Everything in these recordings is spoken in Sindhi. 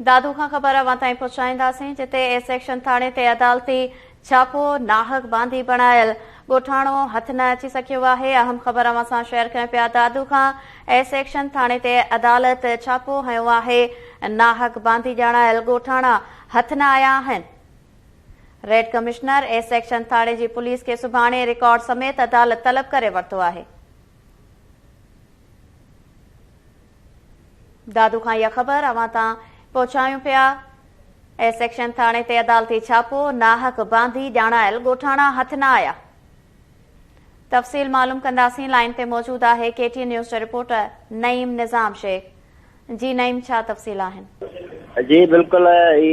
دادو کان خبر اوهان تائين پهچائينداسين، جتي اي سيڪشن ٿاڻي تي عدالتي ڇاپو ناحق باندي بڻايل ڳوٺاڻو هٿ نه اچي سگهيو آهي، اهم خبر اوهان سان شيئر ڪريون پيا دادو کان اي سيڪشن ٿاڻي تي عدالت ڇاپو هنيو آهي، ناحق باندي ڄاڻايل ڳوٺاڻا هٿ نه آيا آهن، ريڊ ڪمشنر اي سيڪشن ٿاڻي جي پوليس کي سڀاڻي رڪارڊ سميت عدالت طلب ڪري ورتو آهي. دادو کان اها خبر اوهان تان پهچايون پيا. اي سيڪشن ٿاڻي تي عدالتي ڇاپو، ناحق باندي ڄاڻايل ڳوٺاڻا هٿ نه آيا. تفصيل معلوم ڪنداسين، لائين تي موجود آهي ڪي ٽي اين نيوز جو رپورٽر نعيم نظام شيخ. جي نعيم ڇا تفصيل آهن؟ جي بلڪل اي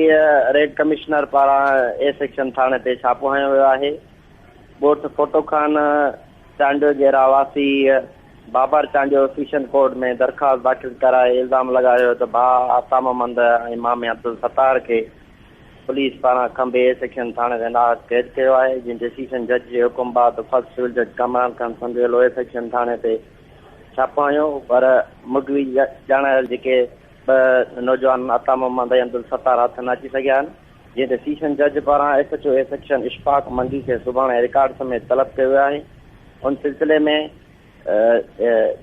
ريڊ ڪمشنر پاران اي سيڪشن ٿاڻي تي ڇاپو هنيو ويو آهي. ڳوٺ ڦوٽو خان چانڊيو جي رهواسي، بابر چانڊيو سيشن ڪورٽ ۾ درخواست داخل ڪرائي الزام لڳايو ته ڀاء آتا محمد ۽ مامي عبدالستار کي پوليس پاران کنڀي اي سيڪشن ٿاڻي تي نااهل قيد ڪيو آهي جنهن تي سيشن جج جي حڪم بعد فرسٽ سول جج ڪامران خان سنڌويلو اي سيڪشن ٿاڻي تي ڇاپو هنيو پر مغوي ڄاڻايل جيڪي ٻه نوجوان آتا محمد ۽ عبدالستار هٿ نه اچي سگهيا آهن. جنهن تي سيشن جج پاران S H O A section Ashfaq Mangi کي سڀاڻي رڪارڊ سميت طلب ڪيو ويو آهي ان سلسلي ۾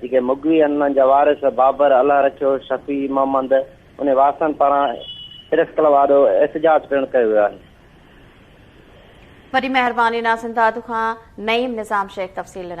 جيڪي مغوي آهن انهن جا وارث بابر، الله رکيو، شفيع محمد انهي وارثن پاران پريس ڪلب آڏو احتجاج پڻ ڪيو ويو آهي. وڏي مهرباني ناصر داد کان نعيم نظام شيخ تفصيل ڏنا.